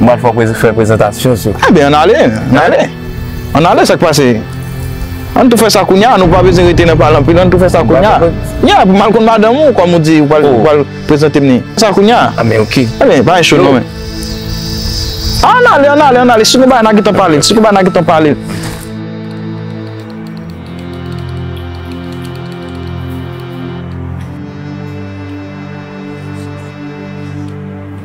M pral fè w fè prezantasyon sou. Enben ann ale, ann ale. Ann ale sa k pase. Ann tou fè sa kounya, nou pa bezwen rete nan pale anpil, ann tou fè sa kounya. Ya, pou m al konn madanm ou kòm ou di ou pral prezante m ni. Fè sa kounya. Anben ok. Anben pa gen cho non men. Ann ale, ann ale, ann ale. Si gen bagay n a gen tan pale, si gen bagay n a gen tan pale.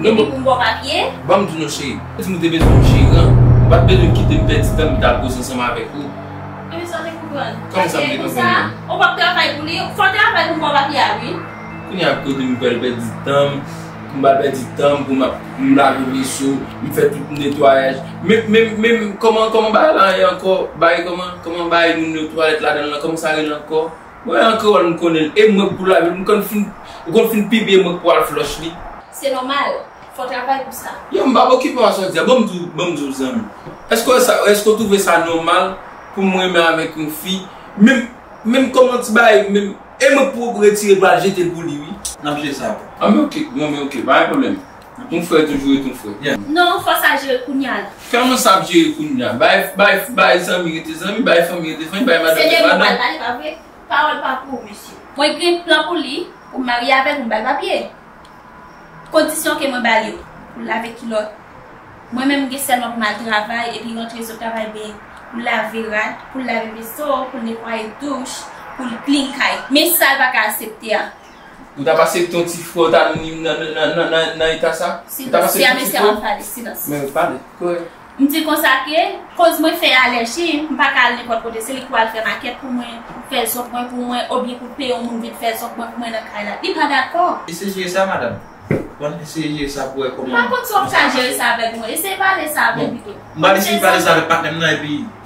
Depi pou m bo papye. Ban m di w non cheri. Di m ou te bezwen yon jeran. Ou pa t bezwen kite m pèdi tan m pou m t al koze ansanm avèk ou. Epi sa w te konprann? Kòman sa m te konprann lan? Ou pa p travay pou li. Fò w travay pou m bo papye a wi. Kounye a kote m pral pèdi tan m. Pou m pa pèdi tan m pou m ap lave veso, m fè tout netwayaj. Men, men, men kòman bagay lan ye ankò? Bagay kòman? Kòman bagay moun yo twalèt ladan l lan? Kòman sa rele ankò? Mwen an kreyòl m konnen l e mwen k pou lavi l m konn fin ou konn fin pibliye mwen k pou al flòch li. Se nòmal, fò travay pou sa. Yow m pap okipe w a sa w di a bon m di w bon m di w zanmi èske w wè sa èske w twouve sa nòmal pou m renmen avèk yon fi menm menm kòman ti bagay menm e mwen k pou retire l pou al jete l pou li wi. N ap jwe sa apre. Anben ok, bon men ok pa gen pwoblèm. Yon frè toujou ret yon frè. Non, fò sa jere kounya la. Kman sa ap jere kounya? Bay zanmi rete zanmi, bay fanmi rete fanmi, bay madanm rete madanm. Se de li pral pale pa vre? Pawòl pa pou ou mesye. Mwen gen plan pou li, pou m marye avè l, pou m ba l papye. Kondisyon ke mwen ba l yo, pou l lave kilòt. Mwen menm m gen sèlman pou m al travay epi rantre sot travay vini. Pou l lave rad, pou l lave veso, pou l netwaye douch, pou l klin kay. Men sa l pa ka asepte a. Ou tap asepte yon ti frè w ta vin nan eta sa? Silans, si amesye ap pale, silans. Men yo pale, korèk. M di konsa ke, koz mwen fè alèji, m pa ka al nenpòt kote, se li ki pral fè makèt pou mwen, fè zòb mwen pou mwen, obyen pou l peye yon moun vin fè zòb mwen pou mwen nan kay la. Li pa dakò. Eseye jere sa madam. Ou konn eseye jere sa pou wè kòman. M pa konn si w ap ka jere sa avèk mwen. Eseye pale sa avè m pito. M pral eseye pale sa avèk patnè m nan epi.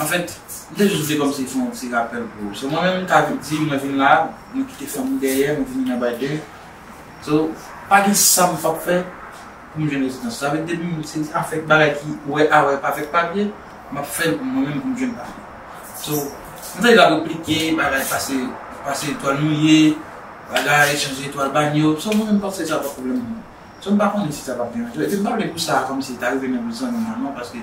An fèt, m te jis vle kòmsi fè yon ti rapèl pou ou. So mwen menm m ta di mwen vin la, mwen kite fanmi dèyè, mwen vini nan Biden. So, pa gen sa m pap fè pou m jwenn rezidans. Sa vle di depi m se ti afè bagay ki wè a wè avèk papye, m ap fè l pou mwen menm pou m jwenn papye. So, m ta di l ap replike, bagay pase, pase etwal mouye, bagay chanje etwal banyo. So mwen menm m panse se sa pa pwoblèm pou mwen. So m pa konnen si sa pap deranje ou. Epi m pa vle pou sa a kòmsi ta rive nan bouch zanmi mwen non paske.